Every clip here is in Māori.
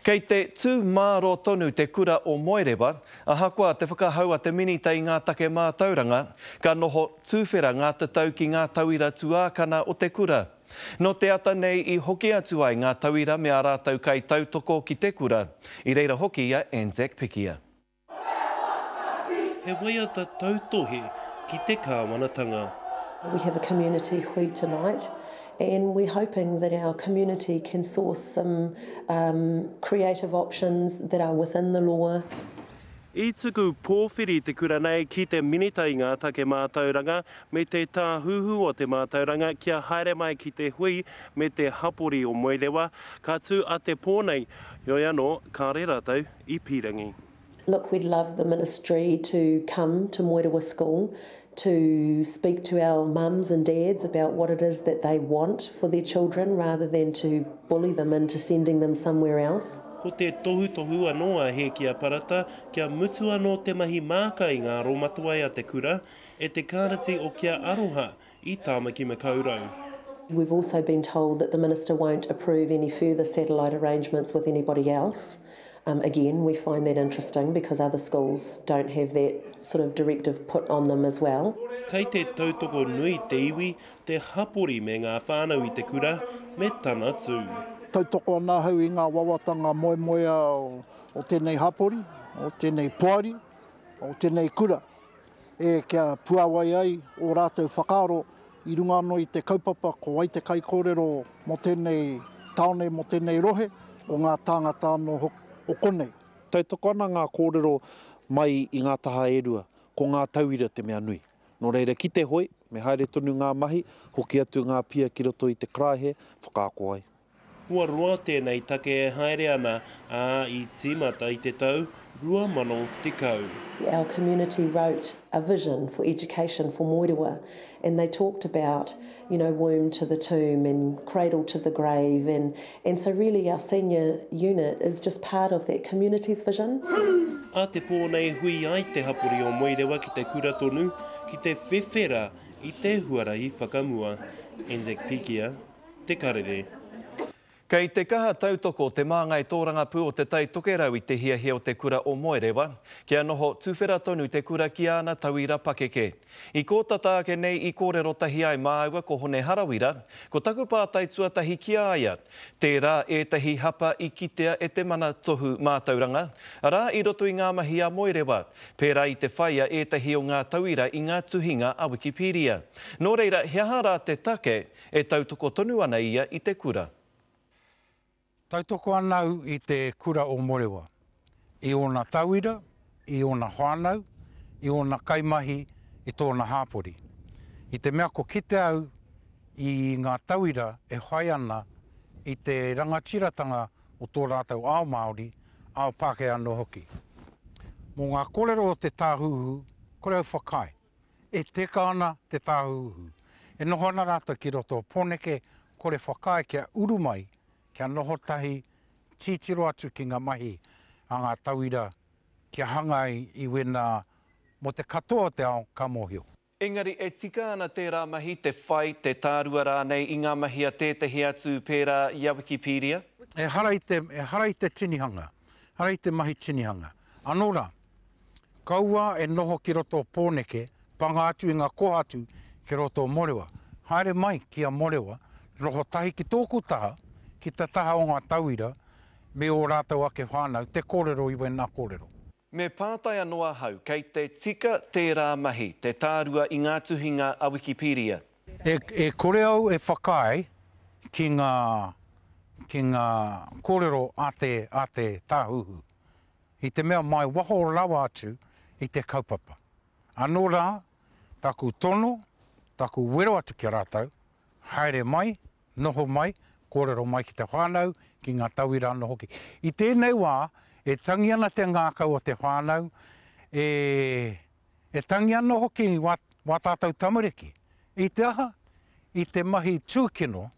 Kei te tū mārō tonu te kura o Moerewa, ahakoa te whakahau a te Minita i ngā take mātauranga, ka noho tūwhera ngā tatau ki ngā tauira tuākana o te kura. Nō te ata nei i hoki atu ai ngā tauira me ā rātou kaitautoko ki te kura, i reira hoki a Anzac Pikia. He waiata tautohe ki te Kāwanatanga. We have a community hui tonight and we're hoping that our community can source some creative options that are within the law. I tuku pōwhiri te kura nei ki te Minita i ngā Take Mātauranga me te Tāhuhu o te Mātauranga kia haere mai ki te hui me te hapori o Moerewa, ka tū a Te Pō nei, heoi anō, kāre rātou. i pirangi. Look we'd love the ministry to come to Moerewa school to speak to our mums and dads about what it is that they want for their children rather than to bully them into sending them somewhere else. Ko te tohutohu anō a Hēkia Parata kia mutu anō te mahi māka i ngā aromatoai a te kura, e te Karati o Kia Aroha, i Tāmaki Makaurau. We've also been told that the Minister won't approve any further satellite arrangements with anybody else. Again, we find that interesting because other schools don't have that sort of directive put on them as well. Kei te tautoko nui te iwi, te hapori me ngā whānau i te kura me tana tū. Tautoko ana ahau i ngā wawatanga moemoea o tēnei hapori, o tēnei poari, o tēnei kura. e kia puāwai ai ō rātou whakaaro i runga anō i te kaupapa ko wai te kaikōrero mō tēnei tāone, mō tēnei rohe, ko ngā tāngata anō hoki o konei. Tautoko ana ngā kōrero mai i ngā taha e rua, ko ngā tauira te mea nui. Nō reira ki te hoe, me haere tonu ngā mahi, hoki atu ngā pia ki roto i te karaehe, whakaako ai. Kua roa tēnei take e haere ana, ā, i tīmata i te tau 2010. Our community wrote a vision for education for Moerewa and they talked about you know womb to the tomb and cradle to the grave and and so really our senior unit is just part of that community's vision. A te pō nei hui ai te hapori o Moerewa ki te kura tonu ki te whewhera i te huarahi whakamua. Anzac Pikia. Te Karere. Kei te kaha tautoko Te Māngai Tōrangapū o Te Tai Tokerau i te hiahia o te kura o Moerewa, kia noho tuwhera tonu te kura ki āna tauira pakeke. I kō tata ake nei i kōrero tahi ai māua ko Hone Harawira, ko taku pātai tuatahi ki a ia, tērā ētahi hapa i kitea e te Mana Tohu Mātauranga, arā i roto i ngā mahi a Moerewa, pērā i te whai a ētahi o ngā tauira i ngā tuhinga a Wikipedia. Nō reira, he aha rā te take E tautoko tonu ana ia i te kura. Tautoko ana au i te kura o Morewa, i ōna tauira, i ōna whānau, i ōna kaimahi, i tōna hāpori. I te mea ko kite au i ngā tauira e whai ana i te rangatiratanga o tō rātou ao Māori, ao Pākehā anō hoki. Mō ngā kōrero o te Tāhuhu, kore au whakaae. E teka ana te tāhuhu. E noho ana rātou ki roto o Poneke, kore whakaae kia uru mai, kia noho tahi, titiro atu ki nga mahi a nga tauira kia hanga ai i wena mo te katoa o te ao ka mohio. Engari e tika ana tērā mahi, te whai, te tārua rānei i ngā mahi a tētehi atu pērā i a Wikipedia? Ehara i te, ehara i te tinihanga, ehara i te mahi tinihanga. Anō rā, Kaua e noho ki roto o Pōneke, panga atu i ngā kōhatu ki roto o Morewa. Haere mai ki a Morewa, noho tahi ki tōku taha, ki te taha o ngā tauira me ō rātou ake whānau, te kōrero i wēnā kōrero. Me pātai anō ahau, kei te tika tērā mahi, te tārua i ngā tuhinga a Wikipedia? E kore au e whakaae ki ngā, ki ngā kōrero a te, a te Tāhuhu. i te mea mai waho rawa atu i te kaupapa. Anō rā, taku tono, taku wero atu ki a rātou, haere mai, noho mai, kōrero mai ki te whānau, ki ngā tauira anō hoki. I tēnei wā, e tangi ana te ngākau o te whānau, e tangi ana hoki wā tātou tamariki. I te aha? I te mahi tūkino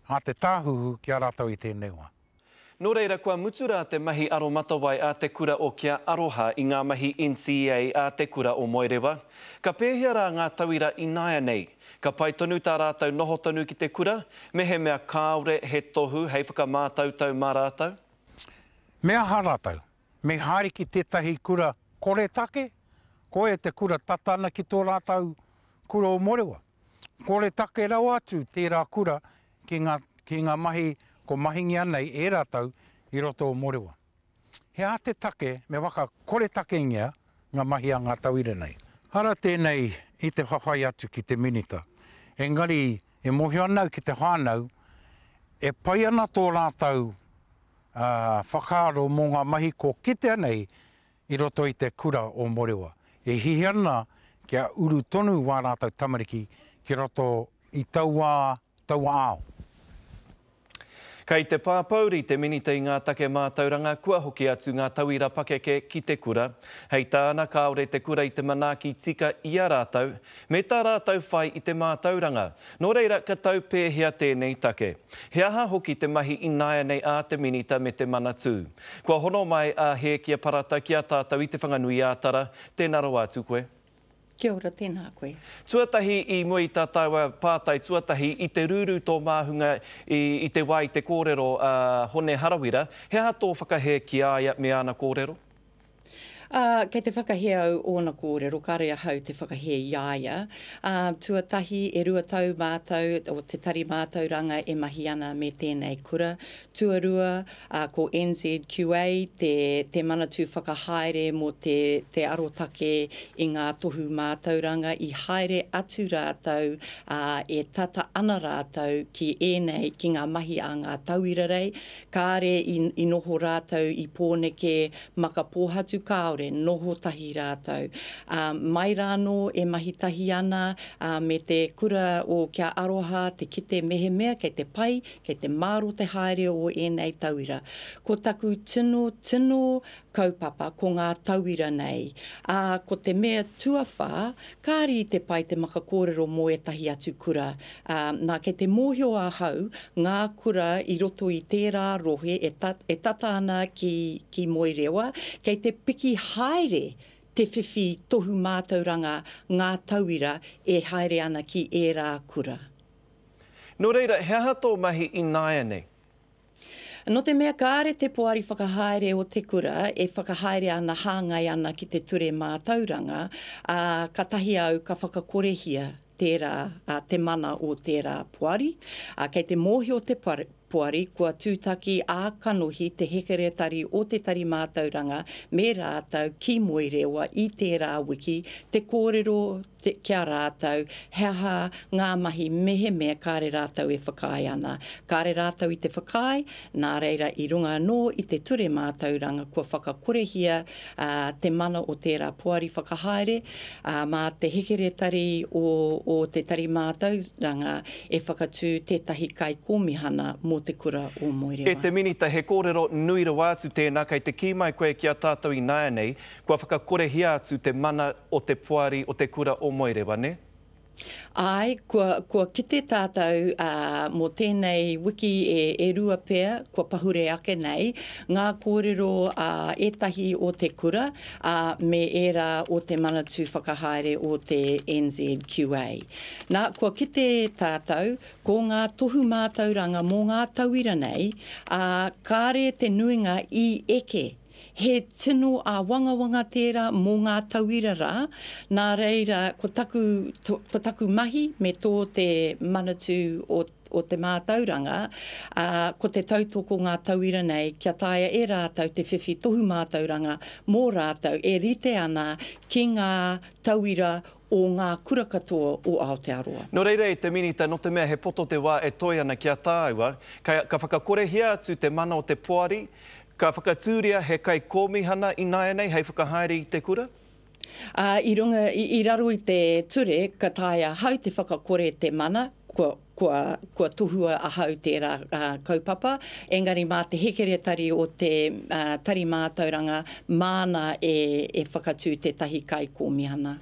a te Tāhuhu ki a rātou i tēnei wā. Nō reira kua mutu rā te mahi aromatawai a te kura o Kia Aroha i ngā mahi NCEA a te kura o Moerewa. Ka pēhea rā ngā tauira ināianei? Ka pai tonu tā rātou noho tonu ki te kura, mehemea kāore he tohu hei whakamātautau mā rātou? Me aha rātou? Me haere ki tētahi kura koretake? Koia te kura tata ana ki tō rātou kura o Moerewa? Koretake rawa atu tērā kura ki ngā, ki ngā mahi kua mahingia nei e rātou i roto o Morewa. He aha te take me waka koretakengia ngā mahi a ngā tauira nei? Ara tēnei i te whawhai atu ki te Minita, engari e mōhio ana au ki te whānau, e pai ana tō rātou whakaaro mō ngā mahi kua kitea nei i roto i te kura o Morewa. E hihi ana kia uru tonu wā rātou tamariki ki roto i taua, taua ao. Kei te pāpouri te Minita i ngā take mātauranga kua hoki atu ngā tauira pakeke ki te kura. Hei tāna, kāore te kura i te manaaki tika i a rātou, me tā rātou whai i te mātauranga. Nō reira, ka tau pēhea tēnei take? He aha hoki te mahi ināianei a te Minita me te Manatū? Kua hono mai a Hēkia Parata ki a tātou i Te Whanganui-ā-Tara, tēnā rawa atu koe. Kia ora, tēnā koe. Tuatahi i mua i tā tāua pātai tuatahi i te rūrū tō māhunga i i te wā i te kōrero a Hone Harawira, he aha tō whakahē ki a ia me āna kōrero? Ā, kei te whakahē au ōna kōrero, kāore ahau te whakahē i a ia. Ā, tuatahi, e rua tau mātou, o te Tari Mātauranga e mahi ana me tēnei kura. Tuarua, ā, ko NZQA te, te manatū whakahaere mō te, te arotake i ngā tohu mātauranga, i haere atu rātou, ā, e tata ana rātou ki ēnei, ki ngā mahi a ngā tauira rei, Kāre i noho rātou i Pōneke, Makapōhatu kāore, noho tahi rātou. Ā, mai rānō e mahi tahi ana, ā, me te kura o Kia Aroha te kite mehemea kei te pai, kei te māro te haere o ēnei tauira. Ko taku tino, tino kaupapa ko ngā tauira nei. Ā, ko te mea tuawhā, Kāre i te pai te maka kōrero mō ētahi atu kura, ā, nā, kei te mōhio ahau ngā kura i roto i tērā rohe e, e tata ana ki, ki Moerewa, kei te piki haere te whiwhi tohu mātauranga ngā tauira e haere ana ki ērā kura. Nō reira, he aha tō mahi ināianei? Nō te mea kāre te poari whakahaere o te kura e whakahaere ana hāngai ana ki te ture mātauranga, ā, katahi au ka whakakorehia tērā, ā, te mana o tērā poari, ā, kei te mōhio te poari kua tūtaki ā-kanohi te hekeretari o te tari mātauranga me rātou ki Moerewa i tērā wiki te kōrero ki a rātou he aha ngā mahi mehemea kāre rātou e whakaae ana. Kāre rātou i te whakaae, nā reira i runga anō i te ture mātauranga kua whakakorehia te mana o tērā poari whakahaere, ā, mā te hekeretari o te tari mātauranga e whakatū tētahi kaikōmihana mō te kura o Moerewa. E te Minita, he kōrero nui rawa atu tēnā kei te kī mai koe ki a tātou ināianei kua whakakorehia atu te mana o te poari o te kura o Moerewa, ne? Ae, kua, kua kite tatou, a, mo tenei wiki e, e rua pea kua pahure ake nei, nga korero a etahi o te kura, a, me era o te Manatu Whakahaere o te NZQA. Na, kua kite tatou, ko nga tohu matauranga mo nga tauira nei, a, kare te nuinga i eke, He tino āwangawanga tērā mō ngā tauira rā, nā reira ko taku, ko taku mahi me tō te Manatū o o te mātauranga, ā, ko te tautoko ngā tauira nei kia taea e rātou te whiwhi tohu mātauranga mō rātou e rite ana ki ngā tauira o ngā kura katoa o Aotearoa. Nō reira e te Minita nō te mea he poto te wā e toe ana ki a tāua, ka whakakorehia atu te mana o te poari, ka whakatūria he kaikōmihana ināianei hei whakahaere i te kura? Ā, i runga, i raro i te ture ka taea ahau te whakakore te mana, kua. kua, kua tohua ahau tērā kaupapa, engari mā te hekeretari o te Tari Mātauranga māna e, e whakatū tētahi Kaikōmihana.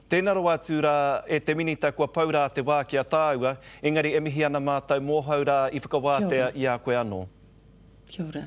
Tēnā rawa atu rā e te Minita kua pau rā te wā ki a tāua, engari e mihi ana mātou mōhou rā i whakawātea i a koe anō. Kia ora.